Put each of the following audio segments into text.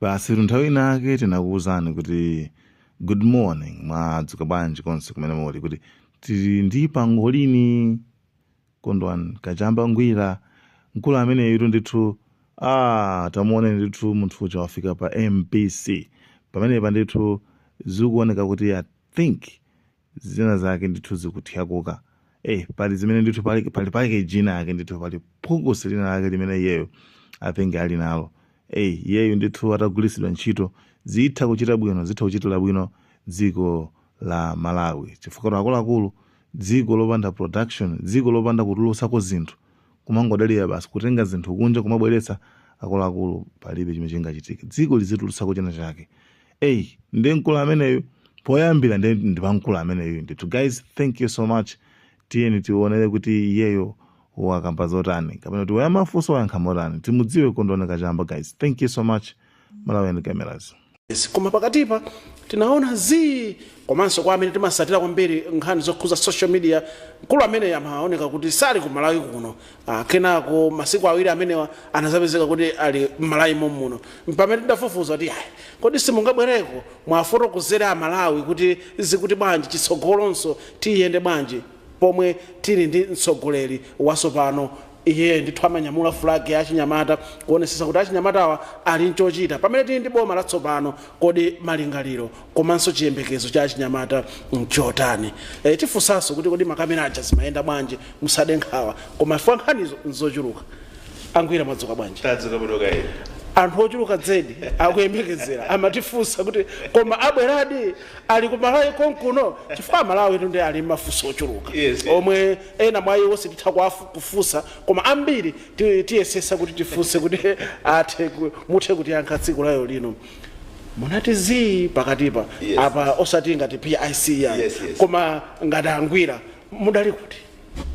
basitu nthawi inake tinakuwuzani kuti good morning mwadzuka bwanji konse kumene muli kuti tili ndi pangolini kondwani kachamba ngwira mkulu ameneyitu ndithu ah, tamuoneni ndithu munthu uja wafika pa mbc pamenepa ndithu zikuoneka kuti i think zina zake ndithu zikuthyakuka eh pali zimene ndithu pali pali pake jina yake ndithu pali phukusi lina lake limene iyeyo I think ali nalo eh iyeyo ndithu atagwiritsidwa ntchito zitha kuchita bwino zitha kuchitira bwino dziko la malawi chifukwa akuluakulu dziko lopanda production dziko lopanda kutulutsako zinthu kumangodalira basi kutenga zinthu kunja kumabweretsa akuluakulu palibe chimene chingachitike dziko lizitulutsako china chake eyi ndi mkulu ameneyu poyambira ndi pa mkulu ameneyu ndithu guys thank you so much tiyeni tionere kuti iyeyo wakamba zotani kapena kuti wayamafunso wayankha motani timudziwe kondwani kachamba guys thank you so much malawian cameras Yes, koma pakatipa tinaona zii komanso kwa amene timasatira kwambiri nkhani zokhuza social media mkulu ameneyu amaoneka kuti sali ku malawi kuno Ah, kenako masiku awiri amenewa anazapezeka kuti ali m'malawi mommuno pamene tidafufuza kuti ayi kodi simungabwereko mwafotokozere amalawi kuti zikuti bwanji chitsogolonso tiyende bwanji pomwe tili ndi mtsogoleri wasopano iye ndithu amanyamula fulagi ya achinyamata kuonesesa kuti achinyamatawa ali nchochita pamene tili ndi boma latsopano kodi malingaliro komanso chiyembekezo cha achinyamata nchotani e, tifunsanso kuti kodi makamera aja zimayenda bwanji musade nkhawa koma chifukwa nkhanizo nzochuluka angwira mwadzuka bwanji tadzuka bwino kaya anthu ochuluka zedi akuyembekezera amatifunsa kuti koma abweradi ali ku malawi konkuno chifukwa amalawitu nde ali mafunso ochuluka Yes. omwe ena mwa iwo sititha kuwafu- kufunsa koma ambiri ti- tiyesesa kuti tifunse kuti athe ku- muthe kutiyankha tsiku lalero lino munati zii pakatipa Yes. apa osati ngati pic yani Yes, yes. koma ngati angwira mudali kuti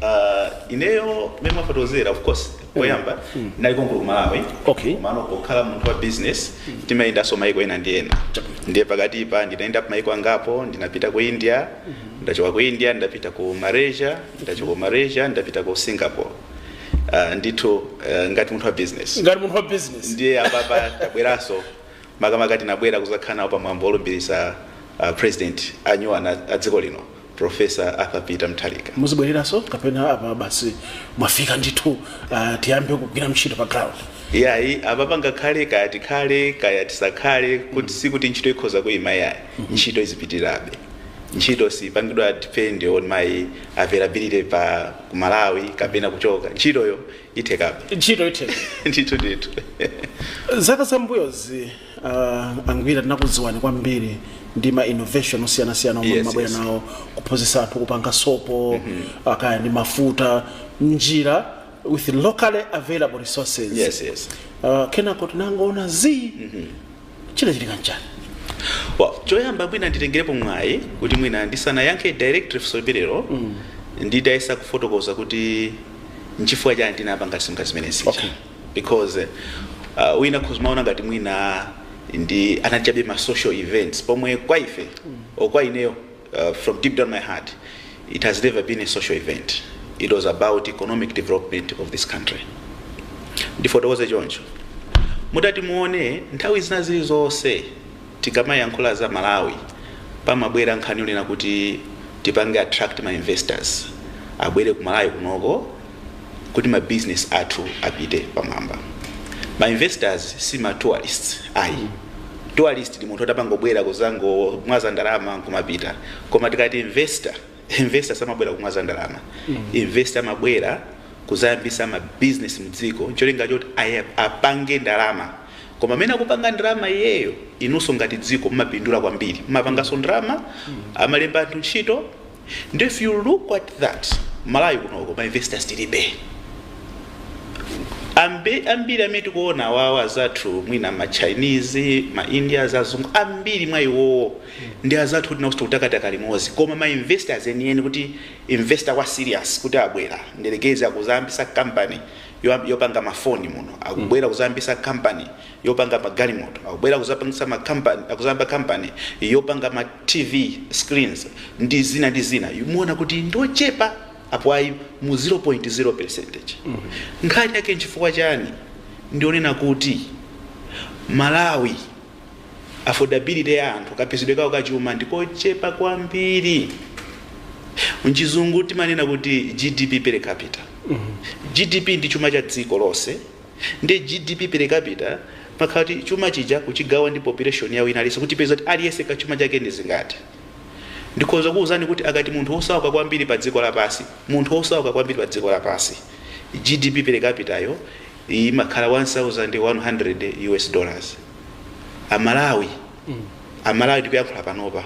Uh, ineyo mmene mwafotokozera of course poyamba ndinali konkuno ku malawi Okay. komano pokhala munthu wa business timayendanso maiko ena ndi ena ndiye pakatipa ndinayenda ku maiko angapo ndinapita ku india ndachoka ku india ndapita ku malaysia ndachoka ku malaysia ndapita ku singapore Ah, ndithu eh, ngati munthu wa business ngati munthu wa business ndiye apapa tabweranso makamaka tinabwera kuzakhala nawo pamwambo olumbiritsa ah, president anyuwani a a dziko lino professor arthur peter mutharika muzibwereranso kapena apa basi mwafika ndithu ah, tiyambe kugwira ntchito pa ground yayi apapa ngakhale kaya tikhale kaya tisakhale kuti sikuti ntchito ikhoza kuyima yayi ntchito izipitirirabe ntchito sipangidwa depend on my availability pa ku malawi kapena kuchoka ntchitoyo ithekabe ntchito itheka ndithu ndithu zaka zambuyozi uh, angwira tinakudziwani kwambiri ndi ma innovation osiyanasiyana omwe Yes, mmabwera yes. nawo kuphunzitsa anthu kupanga sopo uh, kaya ndi mafuta njira with locally available resources yes yes uh, kenako tinangoona zii chinachitika nchani well, choyamba mwina nditengerepo mwayi kuti mwina ndisanayankhe directly funso limenelo mm. nditayesa kufotokoza kuti nchifukwa chani tinapanga zimenezi Okay. because uh, wina akhoza kumaona ngati mwina anali chabe ma social events pomwe kwa ife mm. kwa ineyo Uh, from deep down my heart, it has never been a social event. It was about economic development of this country. ndifotokoze choncho mutati muone nthawi zina zilizonse tikamayankhula za malawi pamabwera nkhani yonena kuti tipange attract ma investors abwere ku malawi kunoko kuti ma business athu apite pamwamba. Ma investors si ma tourists ayi. Tourist ndi munthu oti amangobwera kuzangomwaza ndalama nkumapita. Koma tikati investor, investor samabwera kumwaza ndalama. Investor amabwera kuzayambisa ma business mu dziko ncholinga choti aya- apange ndalama. Koma pamene akupanga ndalama iyeyo, inunso ngati dziko mumapindula kwambiri. Mumapanganso ndalama, amalemba anthu ntchito, Nde if you look at that Malawi kunoko ma investors tilibe Ambe, ambiri amene tikuona awawa azathu mwina ma chinese ma indias azungu ambiri mwa iwowo ndi azathu oti ndi oti kutakataka limodzi koma ma investors enieni kuti investor wa serious woti abwera nyerekeze akuzayambisa company yo- yopanga mafoni muno akubwera kuzayambisa company yopanga magalimoto akubwera kuzapangisa makampani kuzayamba company yopanga ma TV screens ndi zina ndi zina mumaona kuti ndochepa apo ayi mu 0.0 percentage nkhani yake nchifukwa chani ndi yonena kuti malawi affordability ya anthu kapezedwe kawo kachuma ndikochepa kwambiri mchizungu timanena kuti gdp per capita gdp ndi chuma cha dziko lonse Nde GDP per capita imakhala kuti chuma chija kuchigawa ndi population ya wina aliyense kuti tipeze kuti aliyense kachuma chake ndi zingati. Ndikhoza kukuuzani kuti akati munthu wosauka kwambiri pa dziko lapansi, munthu wosauka kwambiri pa dziko lapansi, GDP per capita yo imakhala 1100 US dollars. A Malawi, a Malawi tikuyankhula panopa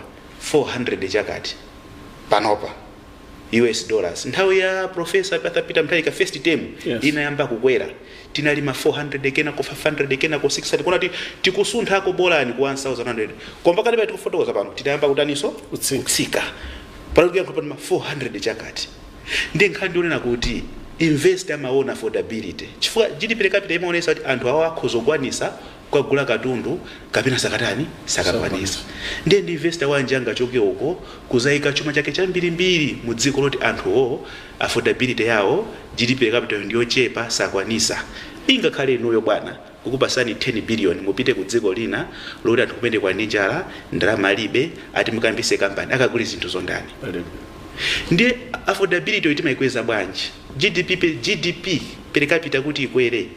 400 chakati panopa. us dollars nthawi ya profesa Peter Mutharika first term Yes. inayamba kukwera tinali ma 400 kenako 500 kenako 600 kuona kuti tikusunthako bolani ku 1100 koma pakati pa tikufotokoza pano tinayamba kutaniso Kutsika. kutsika pano kuyankhula pano ma 400 chakati ndi nkhani ndionena kuti investor amaona affordability chifukwa gdp per capita imaonesa kuti anthu awo akhoza kukwanisa kugula katundu kapena sakatani sakakwanisa ndiye ndi investor wanji angachoke uko kuzaika chuma chake chambirimbiri mu dziko loti anthuwo affordability yawo GDP per capitayo ndiyochepa sakwanisa ingakhale inuyo bwana kukupasani 10 billion mupite ku dziko lina loti anthu kumeneko ali ndi njala ndalama alibe ati mukayambise company akagule zinthuzo ndani ndiye affordabilityyo timaikweza bwanji GDP per, GDP per capita kuti ikwere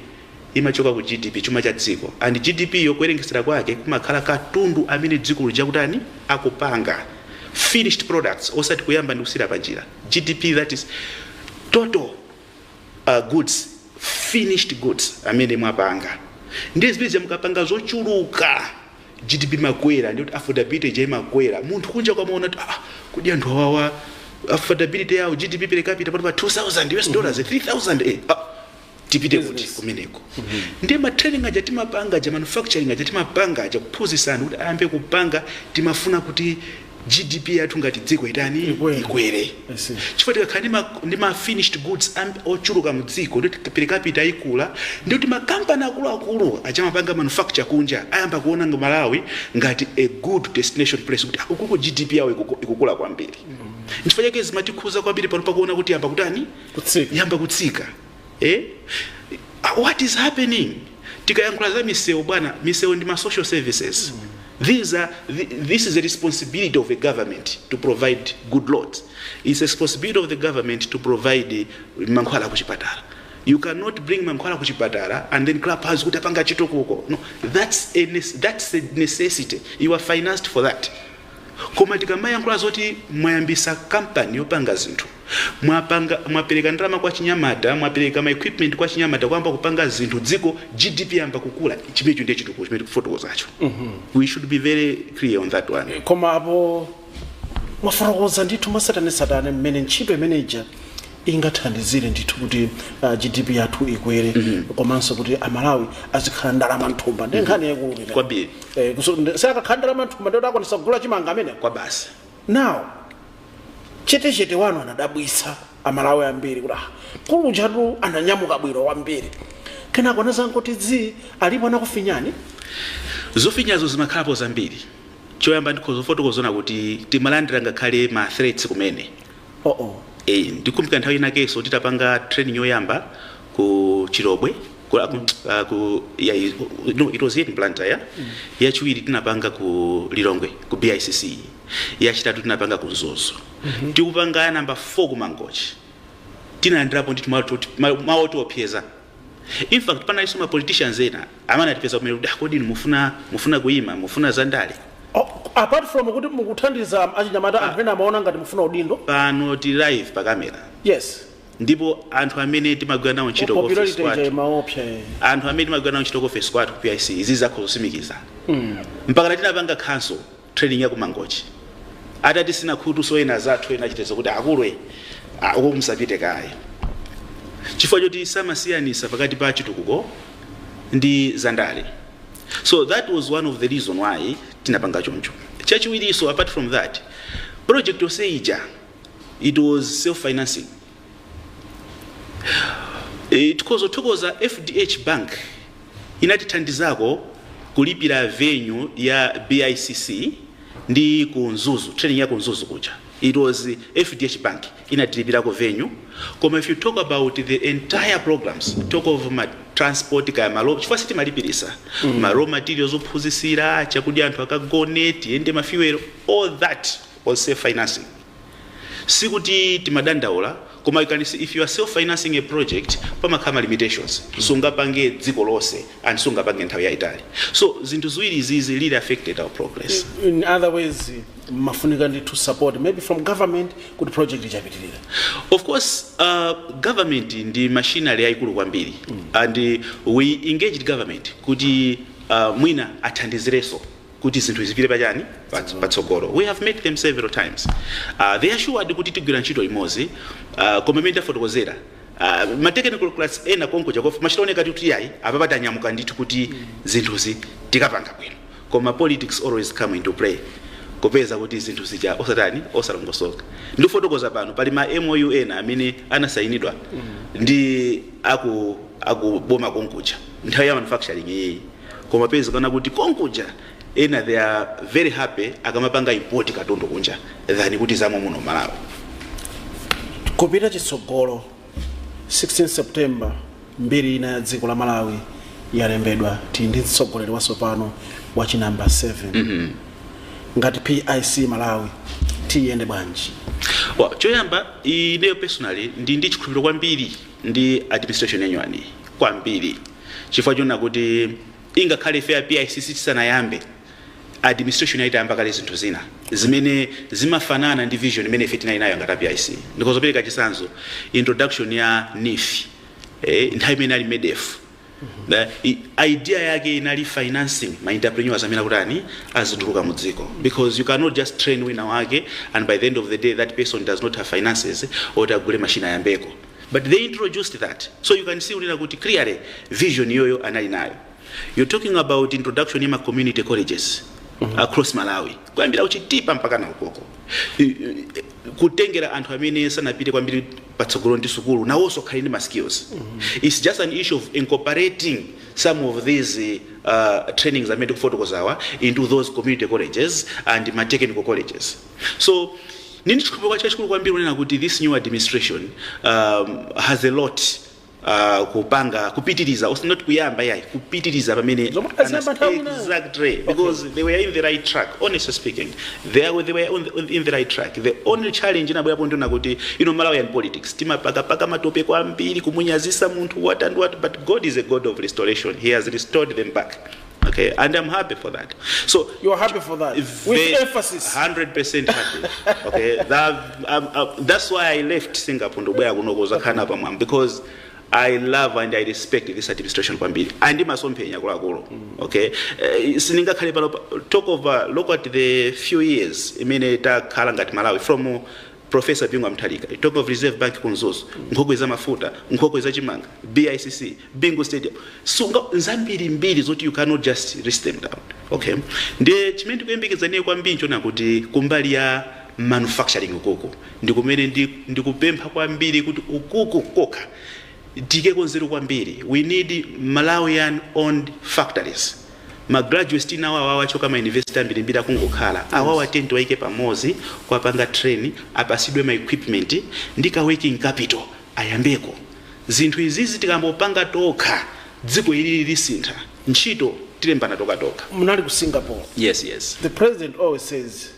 imachoka ku GDP, chuma cha dziko, and GDPyo kuwerengesera kwake kumakhala katundu amene dziko lija akutani, akupanga, finished products, osati kuyamba ndi kusiyira panjira, GDP that is total uh, goods, finished goods amene mwapanga. Ndiye zimene zija mukapanga zochuluka GDP imakwera, ndikuti affordability ija imakwera. Munthu kunjako amaona kuti ah, kodi anthu awawa affordability yawo GDP per capita pano pa 2000 US dollars 3000 eh, ah, tipite kuti Business. kumeneko ndiye ma training aja timapanga aja manufacturing aja timapanga aja kuphunzitsa anthu kuti ayambe kupanga timafuna kuti gdp yathu ngati dziko itani Ikwere. ikwere I see. chifukwa tikakhala ndi ma- ndi ma finished goods am- ochuluka mu dziko ndi kuti per capita ikula ndi kuti makampani akuluakulu aja amapanga manufacture kunja ayamba kuona nga malawi ngati a good destination place kuti ukuko gdp yawo ikuku- ikukula kwambiri nchifukwa chake zimatikhuza kwambiri pano pakuona kuti yayamba kutani kutsika yamba kutsika eh? Ah, what is happening tikayankhula za misewu bwana misewu ndi ma social services These are, thi- this is the responsibility of a government to provide good roads. It's a responsibility of the government to provide eh, mankhwala kuchipatala. You cannot bring mankhwala kuchipatala and then clap hands kuti apanga chitukuko. No, that's a, nes- that's a necessity. You are financed for that. Koma tikamayankhula zoti mwayambisa company yopanga zinthu, mwapanga, mwapeleka ndalama kwa achinyamata, mwapeleka ma equipment kwa achinyamata kuyamba kupanga zinthu, dziko GDP yayamba kukula, chimenecho ndiye chitukuko chimene tikufotokozacho. Mm -hmm. We should be very clear on that one. Koma apo mwafotokoza ndithu mwatsatanetsatane mmene ntchito imeneija ingathandizire ndithu kuti ah, GDP yathu ikwere komanso kuti Amalawi azikhala ndi ndalama mthumba ndi nkhani yaikulu imeneyo. Kwambiri. Eh, kuso- ndi- akakhala ndi ndalama mthumba ndiye kuti akwanisa kugula chimanga ameneo basi now chetechete wanu anadabwitsa amalawi ambiri kuti ah, kulunjatu ananyamuka bwino kwambiri kenako anazangoti zii alipo anakufinyani zofinyazo zimakhalapo zambiri choyamba ndikhoza kufotokozano kuti timalandira ngakhale ma threats kumene Oh oh. Eh, ndikumbuka nthawi inakenso titapanga training yoyamba ku Chilobwe ku, ku, uh, ku ya, no, it was here in Blantyre yeah? mm. yachiwiri tinapanga ku Lilongwe ku BICC yachitatu tinapanga ku Mzuzu mm -hmm. tikupanga ya namba 4 ku Mangochi tinalandirapo ndithu mawu otiopseza in fact panaliso ma politicians ena Amene atipeza kumene kuti ah kodi inu mufuna kuima mufuna za ndale. Oh, apart from kuti mukuthandiza achinyamata anthu ena amaona ngati mufuna udindo. Pano tili live pa camera. Yes. Ndipo anthu amene timagwira nawo ntchito ku office kwathu. Popularity ija imaopsa. eh. Anthu amene timagwira nawo ntchito ku office kwathu ku PIC izi zakho zosimikiza. Mpaka tinapanga cancel training ya ku Mangochi atatitsina khutu so ena azathu ena achitetezo kuti akulu e ah, uko musapite kaye chifukwa choti samasiyanisa pakati pa chitukuko ndi zandale so that was one of the reason why tinapanga choncho chachiwirinso apart from that project yonse ija it was self financing E, tikhoza kuthokoza FDH Bank inatithandizako kulipira venue ya BICC ndi ku Mzuzu training ya ku Mzuzu kuja it was FDH Bank inatilipirako venue koma if you talk about the entire programs talk of ma transport kaya malo chifukwa sitimalipiritsa mm. ma raw materials ophunzitsira chakudya anthu akagone tiyende ma fuel all that was self financing Sikuti timadandaula koma you can see if you are self financing a project pamakhala ma limitations sungapange dziko lonse and sungapange nthawi yaitali so zinthu ziwiri izizi really affected our progress in other ways imafunika ndithu support maybe from government kuti project ija ipitirire of course uh, government ndi machinery yaikulu kwambiri and we engaged government kuti uh, mwina athandizirenso kuti zinthu zipite pa chani Pats- patsogolo we have met them several times uh, they assured kuti tigwira ntchito limodzi uh, koma mmene tafotokozera uh, ma technical class ena konkuja kufika mumachita kuoneka kuti ayi apapa tanyamuka ndithu kuti zinthuzi tikupanga bwino koma politics always come into play kupeza kuti zinthu zija osati osalongosoka ndikufotokoza pano pali ma MOU ena amene anasayinidwa ndi akuboma konkuja nthawi ya manufacturing iyiyi koma kupezeka kuti konkuja ena they are very happy akamapanga import katundu kunja than kuti zomwe muno Malawi kupita chitsogolo 16 september mbiri ina ya dziko la Malawi yalembedwa tili ndi mtsogoleri watsopano wa chinamba 7 mm -hmm. ngati PIC Malawi tiyende bwanji well, choyamba ineyo personally ndili ndi chikhulupiriro kwambiri ndi administration ya nyuwaniyi kwambiri chifukwa chonena kuti ingakhale ife a PIC tisanayambe administration inali itayamba kale zinthu zina zimene zimafanana ndi vision imene ife tinali nayo ngati a PIC ndikhoza kupereka chitsanzo introduction ya NEEF eh, nthawi imene ali MEDEF The i- idea yake inali financing ma entrepreneurs amene akutani azituluka mu dziko because you cannot just train wina wake and by the end of the day that person does not have finances oti agule machine ayambeko but they introduced that so you can see unena kuti clearly vision yoyo anali nayo you're talking about introduction ya ma community colleges across malawi kuyambira kuchitipa mpaka na ukoko i- i- kuchitira kuti anthu amene sanapite kwambiri patsogolo ndi sukulu nawonso akhale ndi ma skills its just an issue of incorporating some of these uh, trainings amene ndikufotokozawa into those community colleges and ma technical colleges so ndili ndi chikhulupiriro chachikulu kwambiri kunena kuti this new administration um, has a lot Uh, kupanga kupitiriza osati not kuyamba yayi kupitiriza pamene Zomwe anaziyamba nthawi ina. exactly because they were in the right track honestly speaking they, are, they were on the, on the, in the right track the only challenge inabwerapo ndi yonena kuti you know malawian politics timapakapaka matope kwambiri kumunyazitsa munthu what and what but god is a god of restoration he has restored them back Okay, and I'm happy for that. So You are happy for that. With Ve- emphasis. 100% happy. okay, that, um, uh, that's why I left Singapore to where kunokoza khana pa mwam because I love and I respect this administration kwambiri. And imasomphenya kulakulu. Okay. Uh, siningakhale pano pa- talk of uh, look at the few years imene takhala ngati Malawi from uh, Professor Bingu wa Mutharika, you talk of Reserve Bank ku Mzuzu, nkhokwe za mafuta, nkhokwe za chimanga, BICC, Bingu Stadium. So nzambirimbiri zoti you cannot just list them down. Okay. Ndiye chimene tikuyembekeza ine kwambiri nchonena kuti kumbali ya manufacturing ukuku ndi kumene ndi, ndikupempha kwambiri kuti ukuku kokha tikakonzeko kwambiri. We need Malawian owned factories. Ma graduates tili nawo awawa achoka m'ma university ambirimbiri akungokhala awawa atati awaike pamozi kuwapanga train apasidwe ma equipment ndi ka working capital ayambeko zinthu izizi tikayamba kupanga tokha dziko ilili lisintha ntchito tilembana tokhatokha. Munali ku Singapore. Yes yes. The president always says.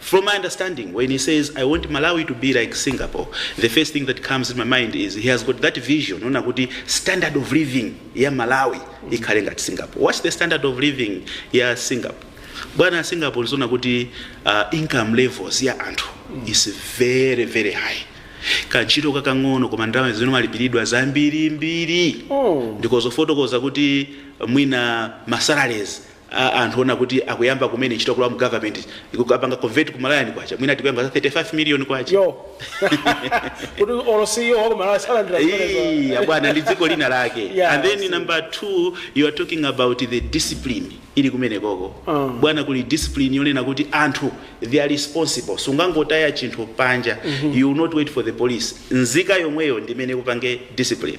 From my understanding when he says I want Malawi to be like Singapore the first thing that comes in my mind is he has got that vision yonena kuti standard of living ya Malawi ikhale ngati Singapore. What's the standard of living ya Singapore? Bwana Singapore is yonena kuti uh, income levels ya anthu is very very high. Kantchito kakang'ono koma ndalama zimene amalipiridwa zambirimbiri ndikhoza kufotokoza kuti mwina masalaries a anthu onena kuti akuyamba kumene ntchito kulowa mu government ukawapanga convert ku Malawian kwacha mwina tikukamba za 35 million kwacha yoti olo CEO wa ku Malawi salandira zimenezo Hey, abwana ndi dziko lina lake Yeah, and then see. number 2 you are talking about the discipline ili kumenekoko Ah. bwana kuli discipline yonena kuti anthu they are responsible sungangotaya chinthu panja you will not wait for the police nzika yomweyo ndi imene ikupange discipline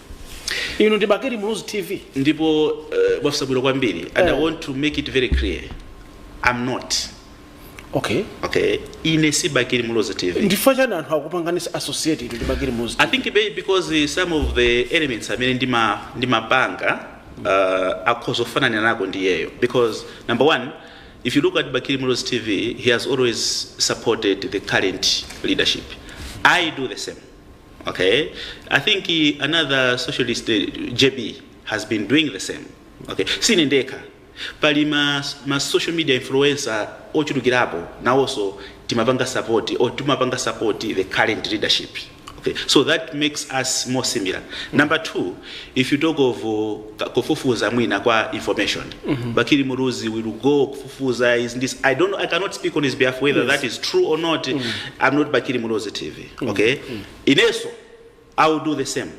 inu ndi bakili muluzi tv ndipo uh, mwafunsa bwino kwambiri and i Eh. want to make it very clear i'm not okay okay ine si bakili muluzi tv nchifukwa chani anthu akupanganisa associate inuyo ndi bakili muluzi i think maybe because uh, some of the elements amene ndima ndimapanga uh, akhoza kufanana nako ndi iyeyo because number one if you look at bakili muluzi tv he has always supported the current leadership i do the same okay i think uh, another socialist uh, jb has been doing the same okay sine ndekha pali ma, ma social media influencer ochulukirapo nawonso timapanga support or timapanga support the current leadership okay so that makes us more similar number two if you talk of uh, ka- kufufuza mwina kwa information bakili muruzi will go kufufuza is this i don't know, i cannot speak on his behalf whether that is true or not i'm not bakili muruzi tv okay inenso i will do the same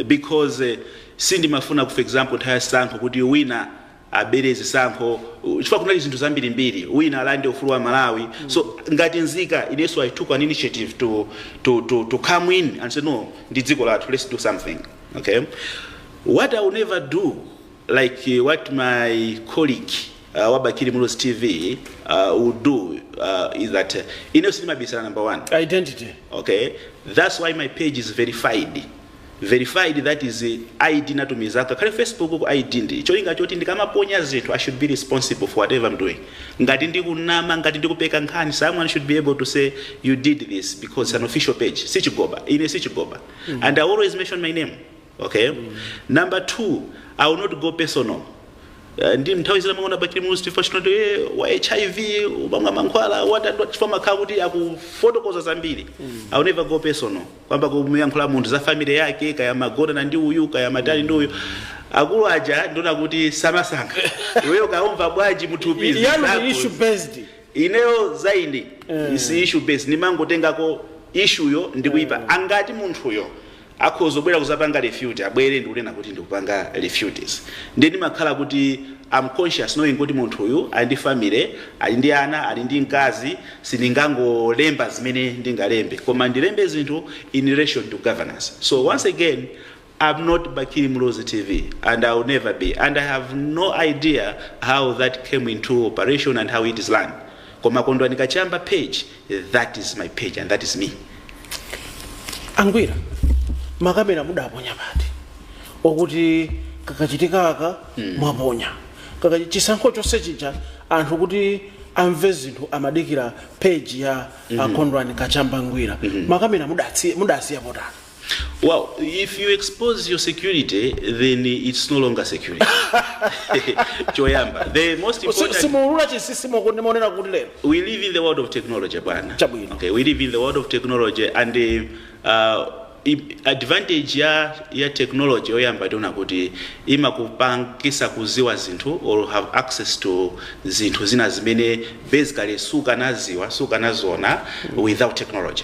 because eh, sindimafuna for example nthawi ya zisankho kuti wina abere zisankho uh, chifukwa kunali zinthu zambirimbiri wina alande ufulu wa amalawi so ngati nzika inenso i took an initiative to, to, to, to come in and say no ndi dziko lathu let's do something okay what i will never do like eh, what my colleague uh, wa bakili muluzi tv uh, will do uh, is that uh, ineyo sindimabisala number one identity okay that's why my page is verified verified that is uh, id ndinatumizako ngakhale facebook-ku id ndi cholinga choti ndikamaponya zinthu i should be responsible for whatever i'm doing ngati ndikunama ngati ndikupeka nkhani someone should be able to say you did this because it's an official page sichigoba ine sichigoba and i always mention my name ok number two i will not go personal Eh, ndi nthawi zina mwaona bakili muluzi tv akunena kuti e wa hiv umamwa mankhwala watatu chifukwa amakhala kuti akufotokoza zambiri i will never go personal kuyamba kumuyankhula munthu za family yake kaya umagonana ndi uyu kaya umatani ndi uyu akulu aja ndimaona kuti samasankha iweyo kaya ukumva bwanji mthupi ndi zako ndi issue based ineyo zanga ndi issue based ndimangotengako ishuyo ndikuyikapa ngati munthuyo akhozobwera kuzapanga refute abwere ndikunena kuti ndikupanga refutes ndiye ndimakhala kuti am conscious knowing kuti munthu uyu ali ndi family ali ndi ana ali ndi mkazi sindingangolemba zimene ndingalembe koma ndilembe zinthu in relation to governance so once again I'm not Bakili Muluzi TV and I will never be and I have no idea how that came into operation and how it is run koma kondwani kachamba page That is my page and that is me. angwira makamera mudaponya pati pokuti kakachitikaka mwaponya kaka chisankho chonse chija anthu kuti amve zinthu amadikira peji ya akondwani kachamba ngwira makamera mudatsi- mudasiya potani Well, if you expose your security, then it's no longer security. Choyamba. The most Si- important. simuulula chinsinsi mmene ndimaonera kuti lero we live in the world of technology bwana Chabwino. okay we live in the world of technology and uh, uh, i- advantage ya ya technology yoyamba ndi yonena kuti imakupangisa kuziwa zinthu or have access to zinthu zina zimene basically sukanaziwa sukanaziona without technology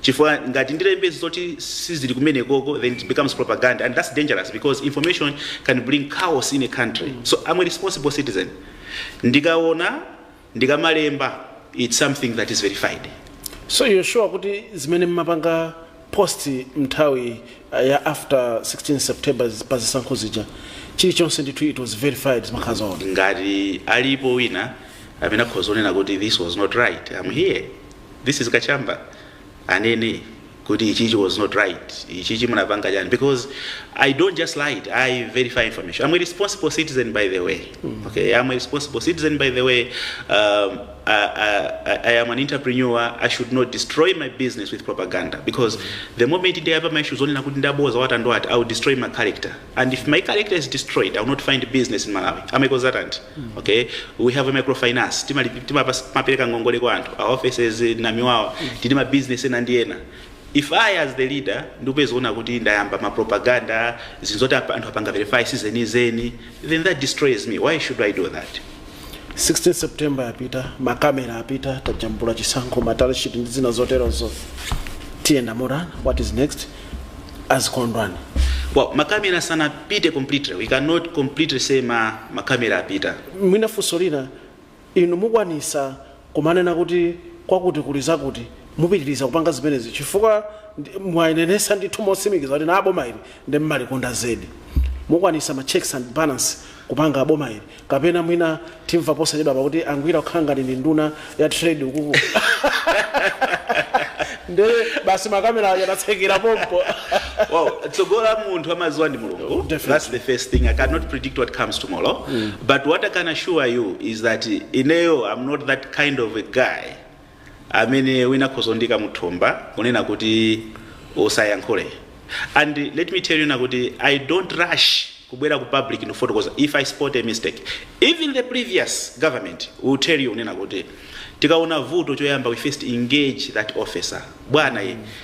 Chifukwa ngati ndilembe zoti sizili kumenekoko then it becomes propaganda and that's dangerous because information can bring chaos in a country so I'm a responsible citizen ndikaona ndikamalemba it's something that is verified. So you're sure kuti zimene mumapanga post munthawi uh, ya after 16 September zi- pa zisankho zija chilichonse ndithu it was verified zimakhala zoona. ngati alipo wina amene akhoza kunena kuti this was not right I'm here this is kachamba anene kuti ichichi was not right ichichi munapanga chani because i don't just lie it, i verify information i'm a responsible citizen by the way okay i'm a responsible citizen by the way um, I, I, I am an entrepreneur i should not destroy my business with propaganda because the moment ndiyapa ma issues onena kuti ndaboza wata ndo ati i will destroy my character and if my character is destroyed i will not find business in malawi amaikozatanti okay we have a microfinance timali- timapas- timapereka ngongole kwa anthu our offices eh, namiwawa tili ma business ena ndi ena if i as the leader ndikupezeka kuti ndayamba ma propaganda zinthu zoti apa- anthu apanga verify si zenizeni then that destroys me why should i do that 16 september yapita makamera apita tajambula chisankho ma tally sheet ndi zina zoterozo tiyenda motani what is next a Chikondwani well makamera sanapite completely we cannot completely say ma makamera apita mwina funso lina inu mukwanisa kumanena kuti kwakuti kuli zakuti mupitiriza kupanga zimenezi chifukwa ndi- mwayenenesa ndithu motsimikiza kuti nanu boma ili nde mumalikonda zedi mukwanisa ma checks and balance kupanga boma ili Kapena mwina timva posachedwapa kuti a Ngwira kukhala ngati nduna ya trade ukuku. Nde basi makamera aja tatsekera pompo. Well, tsogolo la munthu amaziwa ndi mulungu Definitely. that's the first thing i cannot predict what comes tomorrow but what i can assure you is that ineyo i'm not that kind of a guy amene wina akhoza kundiika m'thumba kunena kuti usayankhule and let me tell you kunena kuti i don't rush kubwera ku public ndikufotokoza if i spot a mistake even the previous government will tell you kunena kuti tikaona vuto choyamba we first engage that officer bwana ye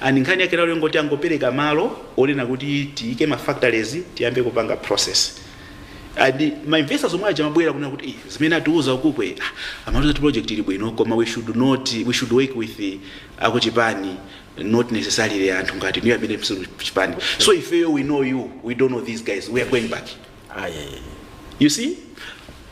And nkhani yake lero yongoti angopereka malo onena kuti tiike ma factories tiyambe kupanga process. And ma investors omwe aja amabwera kunena kuti "Eh, zimene atiuza ukukwe ah, amatiuza kuti project ili bwino koma we should not we should work with the akuchipani not necessarily anthu ngati inuyo amene simuli mchipani. So ifeyo we know you, we don't know these guys, we are going back. Ayayaya. You see?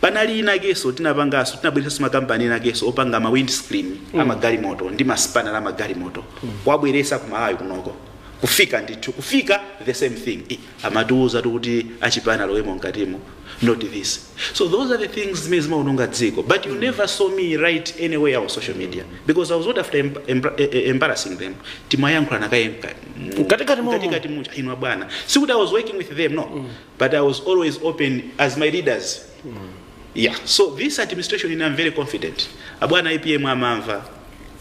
Panali inakeso tinapangaso tinabweresaso makampani enakeso opanga ma windscreen mm. amagalimoto ndi maspanner amagalimoto mm. kuwabweresa ku Malawi kunoko kufika ndithu kufika the same thing I- amatiuza kuti achipani alowemo mkatimo not this so those are the things zimene zimaononga dziko but you never saw me write anywhere on social media because i was not after emb- emb- eh, eh, embarrassing them timayankhulana kaye mka- Mkatikati mo- mkatikati muja inu abwana sikuti i was working with them no mm. but i was always open as my leaders mm. yeah so this administration ine i'm very confident abwana apm amamva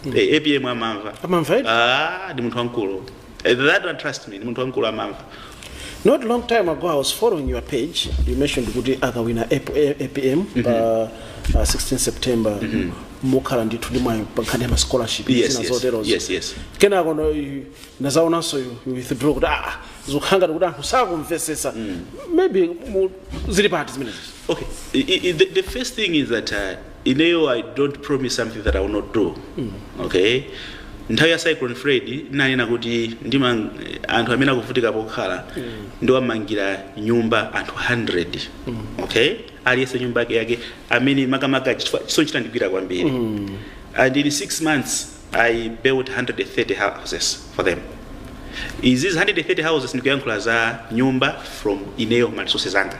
mm. apm amamva Amamva eti? ah ndi munthu wamkulu Eh, that one trust me ndi munthu wamkulu amamva not long time ago i was following your page you mentioned kuti akawina AP- A- apm pa uh, 16 september mukhala ndithu ndi mwayi pa nkhani ya ma scholarship Yes, zina yes, zoterozo yes, yes. kenako no you- ndinazaonanso you- you withdraw kuti aa zikukhangati kuti anthu sakumvesesa maybe mu- zili pati zimenezi Okay. I, I, the, the first thing is that uh, ineyo i don't promise something that i will not do okay nthawi ya cyclone freddy ndinanena kuti ndimva anthu amene akuvutika pokhala ndiwamangira nyumba anthu 100 okay aliyense nyumba yake yake amene makamaka chifukwa- chisoni chitandigwira kwambiri and in six months i built 130 houses for them izi 130 houses ndikuyankhula za nyumba from ineyo ma resources anga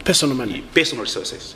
personal money personal resources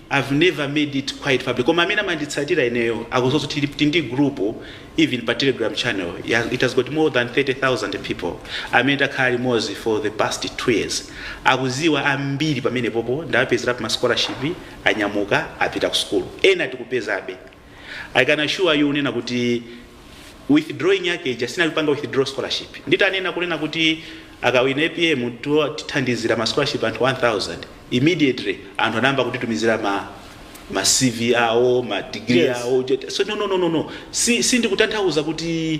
I've never made it quite public koma amene amanditsatira ineyo akuziwa zoti tili ndi group even pa telegram channel ya it has got more than 30,000 people amene takhala limodzi for the past 2 years akuziwa ambiri pamenepopo ndawapezerapo ma scholarship anyamuka apita ku sukulu ena tikupezabe I can assure you kunena kuti withdrawing yake ija sinali kupanga withdraw scholarship nditanena kunena kuti akawina apm tiwo- tithandizira ma scholarship anthu 1000 immediately anthu anayamba kutitumizira ma ma cv awo ma degree Yes. awo so no no no no no si, si ndikutanthauza kuti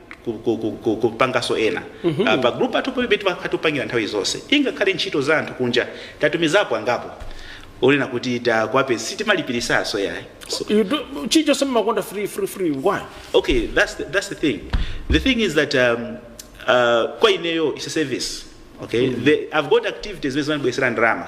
ku- ku- ku- ku- kupanganso ena Ah, pa group athu pano timakhala tikupangira nthawi zonse ingakhale ntchito za anthu kunja tatumizapo angapo onena kuti takwanitsa sitimalipiritsanso yayi so, You do- chilichonse mumakonda free free free why okay that's the, that's the thing the thing is that um, uh, kwa ineyo is a service okay the, i've got activities zimene zimandibwesera ndalama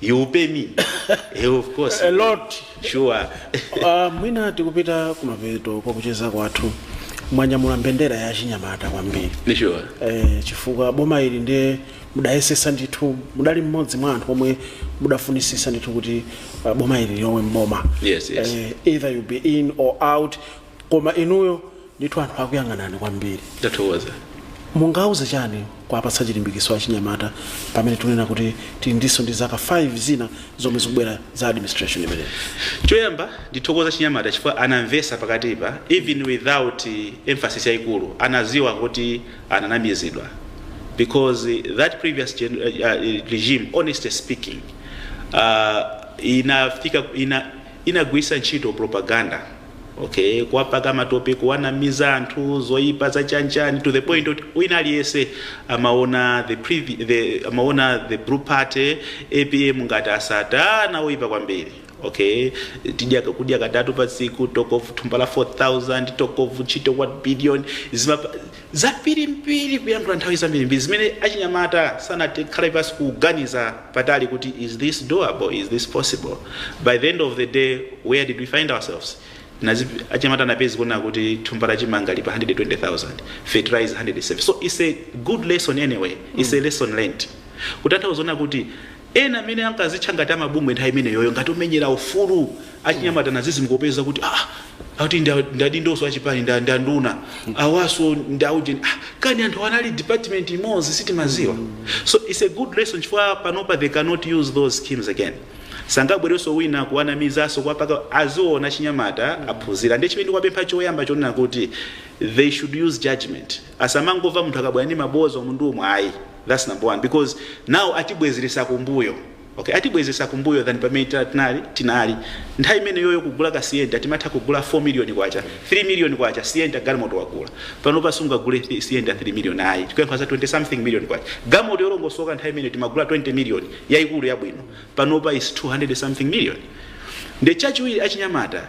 You pay me. Eh, of course. A lot. Sure. Ah, mwina tikupita kumapeto kwa kucheza kwathu mwanyamula mbendera ya chinyamata kwambiri Sure. eh, chifukwa boma ili ndiye mudayesesa ndithu mudali mmodzi mwa anthu omwe mudafunisisa ndithu kuti uh, boma ili lilowe mboma Yes, yes. eh, either you be in or out koma inuyo ndithu anthu akuyang'anani kwambiri ndathokoza mungauze chani kuwapatsa chilimbikiso achinyamata pamene tunena kuti tili ndithu ndi zaka 5 zina zomwe zikubwera za administration imeneyi choyamba ndithokoze achinyamata chifukwa anamvesa pakatipa even without eh, emphasis yaikulu anaziwa kuti ananamizidwa because eh, that previous gen, uh, uh, regime honestly speaking uh, inafika ina, inagwisa ntchito propaganda okay kuwapaka matope kuwanamiza anthu zoyipa zachanchani to the point yoti wina aliyese amaona the, previ, the, amaona the blue party apm ngati asatana oyipa kwambiri okay tizidya kudya katatu pa tsiku talk of thumba la 4000 talk of ntchito 1 million zimapa Zambirimbiri kuyankhula nthawi zambirimbiri zimene achinyamata sanakhale pansi kuganiza patali kuti is this doable, is this possible, by the end of the day where did we find ourselves? Nazi achinyamata napezi kuona kuti thumba la chimanga li pa 120,000, fertilizer 170. So it's a good lesson anyway, it's a lesson learned. Kutanthauza zoona kuti. Ena amene ankazitcha ngati a mabungwe nthawi imeneyoyo ngati omenyera ufulu achinyamata nazizimuka kupeza kuti aah akuti ndi a- ndi adindoso achipani ndi a- ndi anduna awaso ndi aujeni ah, kani anthu anali department imodzi sitimaziwa so its a good lesson chifukwa panopa they cannot use those schemes again sangabwereso wina kuwanamizaso kwapaka aziona achinyamata aphunzira ndiye chimene ndikuwapempha choyamba chonena kuti they should use judgment asamangova munthu akabwera ndi maboza umu ndi umu ayi That's number one because now atibwezeresa kumbuyo okay atibwezesa kumbuyo than pamene ta- tinali tinali nthawi imeneyoyo kugula ka sienta timatha kugula 4 million kwacha 3 million kwacha sienta galimoto wagula panopa sungagule thi- sienta 3 million ayi tikuyankhula za 20 something million kwacha galimoto yolongosoka nthawi imeneyo timagula 20 million yayikulu yabwino panopa is 200 something million nde chachiwiri achinyamata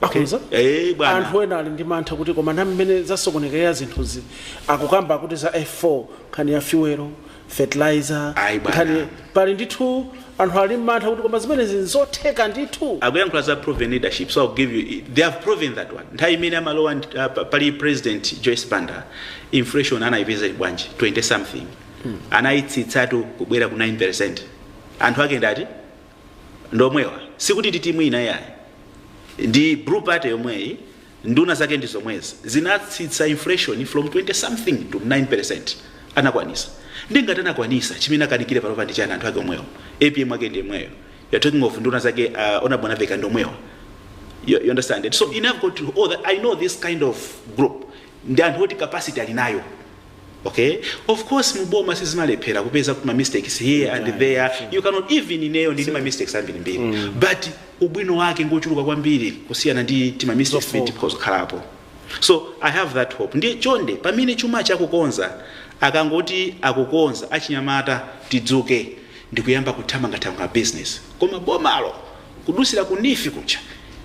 Akhonza? Eh, bwana. anthu ena ali ndi mantha kuti koma na mmene zasokonekera zinthuzi akukamba kuti za f4 nkhani ya fuelo fertilizer Ayi, bwana. nkhani pali ndithu anthu ali mmantha kuti koma zimenezi nzotheka ndithu akuyankhula za proven leadership so I'll give you they have proven that one nthawi imene amalowa ndi- ah, pa- pali president joyce banda inflation anayipeza ili bwanji 20 something anayitsitsatu kubwera ku 9 percent anthu ake ndati ndomwewa sikuti ndi timu ina yayi ndi blue party yomweyi nduna zake ndi zomwezi zinatsitsa inflation from 20 something to 9% anakwanisa nde ngati anakwanisa chimene akanikire panopa ndi chani anthu ake omwewo apm ake ndi yemweyo you're talking of nduna zake uh, honorable mwanamvekha ndomwewa you, you understand it so i have got to, oh, that, i know this kind of group ndi anthu oti capacity ali nayo okay of course muboma sizimalephera kupeza kuti ma mistakes here and Anytime, there sure. you cannot even ineyo ndili ma mistakes ambiri mbiri but ubwino wake ngochuluka kwambiri kusiyana ndi tima mistakes Zofoka. timene tikhoza kukhalapo so i have that hope ndiye chonde pamene chuma chakukonza akangoti akukonza achinyamata tidzuke ndikuyamba kuthamanga thamanga business koma bomalo kudusira ku neef kuja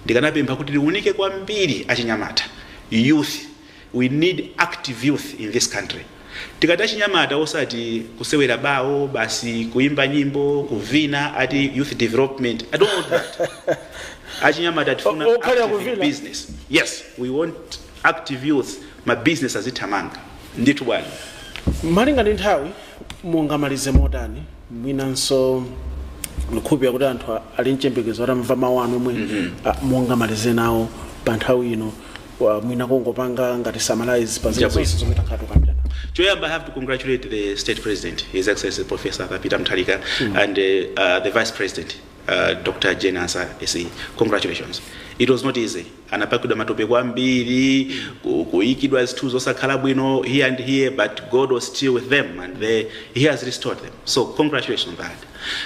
ndikanapempha kuti liunike kwambiri achinyamata youth We need active youth in this country. Tikati achinyamata osati kusewera bawo basi kuimba nyimbo kuvina ati youth development. I don't want that. achinyamata tifuna O- okhalira active kuvina. business. Yes, we want active youth ma business azithamanga. Ndithu bwana. malinga ndi nthawi mungamalize motani mwinanso ndikukhulupirira kuti anthu a- ali mchembekezo atamva mawu anu omwe a- mungamalize nawo pa nthawi ino Wa- mwina kungopanga ngati summarize pa zinthu, Chabwino. zonse zomwe takhala tikukambirana Choyamba, I have to congratulate the state president, His Excellency Professor Peter Mutharika, and uh, uh, the vice president, uh, Dr. Jane Ansah. SE. Congratulations. It was not easy. Anapakidwa matope kwambiri, ku- kuikidwa zinthu zosakhala bwino here and here, but God was still with them and they, he has restored them. So congratulations on that.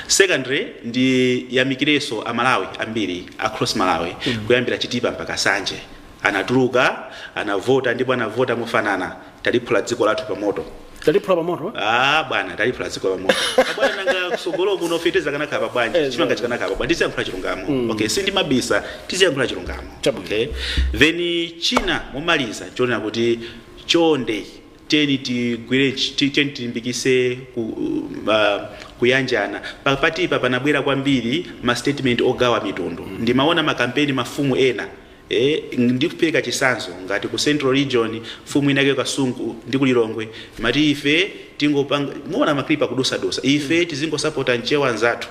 Secondly ndiyamikirenso aMalawi ambiri across Malawi kuyambira Chitipa mpaka Nsanje anatuluka anavota ndipo anavota mofanana taliphula dziko lathu pa moto Taliphula pa moto. Ah bwana taliphula dziko pa moto. Bwana nanga kusogolo kuno feteza kanakhala bwanji. Eh, Chimanga chikanakhala bwanji tiziyankhula chilungamo. Okay, sindimabisa tiziyankhula chilungamo. Chabwino. Okay. Then china chomaliza chonena kuti chonde tiyeni tigwire tiyeni tilimbikise ku, uh, kuyanjana pakatipa panabwera kwambiri ma statement ogawa mitundu mm. ndimaona makampeni mafumu ena eh, ndikupereka chitsanzo ngati ku central region mfumu inake Kasungu ndi ku Lilongwe amati ife tingopanga mumaona maklipa kudusadusa ife tizingosapota Mchewa nzathu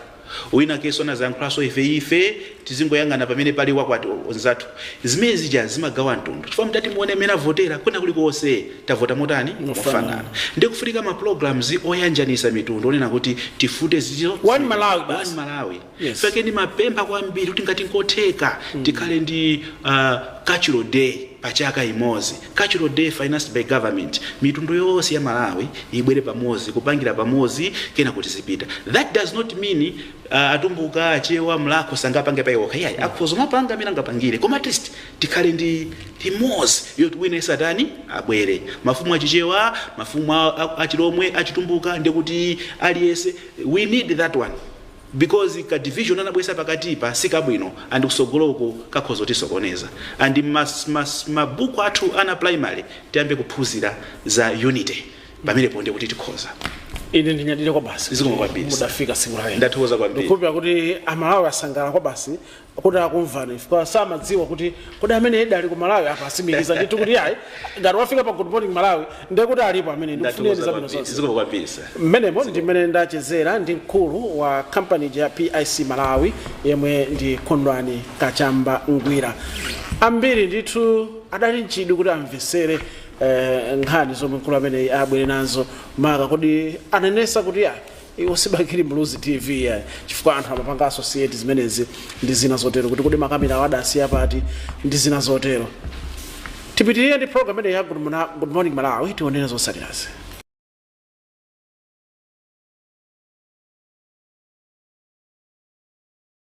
Winakenso anazayankhulanso ife ife tizingoyang'ana pamene pali wakwathu nzathu zimene zija zimagawa mtundu chifukwa mutati muone mmene avotera kwina kulikonse tavota motani mofanana ndiye kufunika ma programs oyanjanisa mitundu onena kuti tifufute zinthuzo One zimene Malawi one basi. Malawi Yes. chake ndimapempha kwambiri kuti ngati nkotheka tikhale ndi uh, cultural day pachaka imozi Cultural day financed by government, mitundu yonse ya Malawi ibwere pamodzi, kupangira pamodzi kenako tizipita. That does not mean atumbuka, achewa, mlakho sangapange pa iwo okha iyayi, akhoza kumapanga amene angapangire koma at least tikhale ndi imodzi yoti wina aliyense atani abwere. Mafumu a Chichewa, mafumu a Chilomwe, a Chitumbuka ndikuti aliyense we need that one. because ka division anabwesa pakatipa sikabwino and kusogolo uko kakhoza kutisokoneza and mabuku athu ana a primary tiyambe kuphunzira za unity pamenepo nde kuti tikhoza ine ndinyadire kwabasi Zikomo kwambiri, sir. mudafika tsiku lalero Ndathokoza kwambiri. ndikukhulupira kuti aMalawi asangalala kwabasi kuti akumvani chifukwa samadziwa kuti kodi amenewa alidi ku Malawi apa atsimikiza ndithu kuti ayi ngati wafika pa Good Morning Malawi ndiye kuti alipo amene ndikufunireni zabwino zonse zikomo kwambiri sir mmenemo ndi mmene ndachezera ndi mkulu wa kampani ya PIC Malawi yemwe ndi Kondwani Kachamba Ngwira ambiri ndithu adali m'chidwi kuti amvesere eh, nkhani zomwe mkulu ameneyi abwere nazo maka poti anenesa kuti ayi Iwo si Bakili Muluzi TV iyayi chifukwa anthu amapanga associate zimenezi ndi zina zotero kuti kodi makamerawo adasiya pati ndi zina zotero. Tipitirire ndi program imeneyi ya Good Mona- Good Morning Malawi tionere zotsatirazi.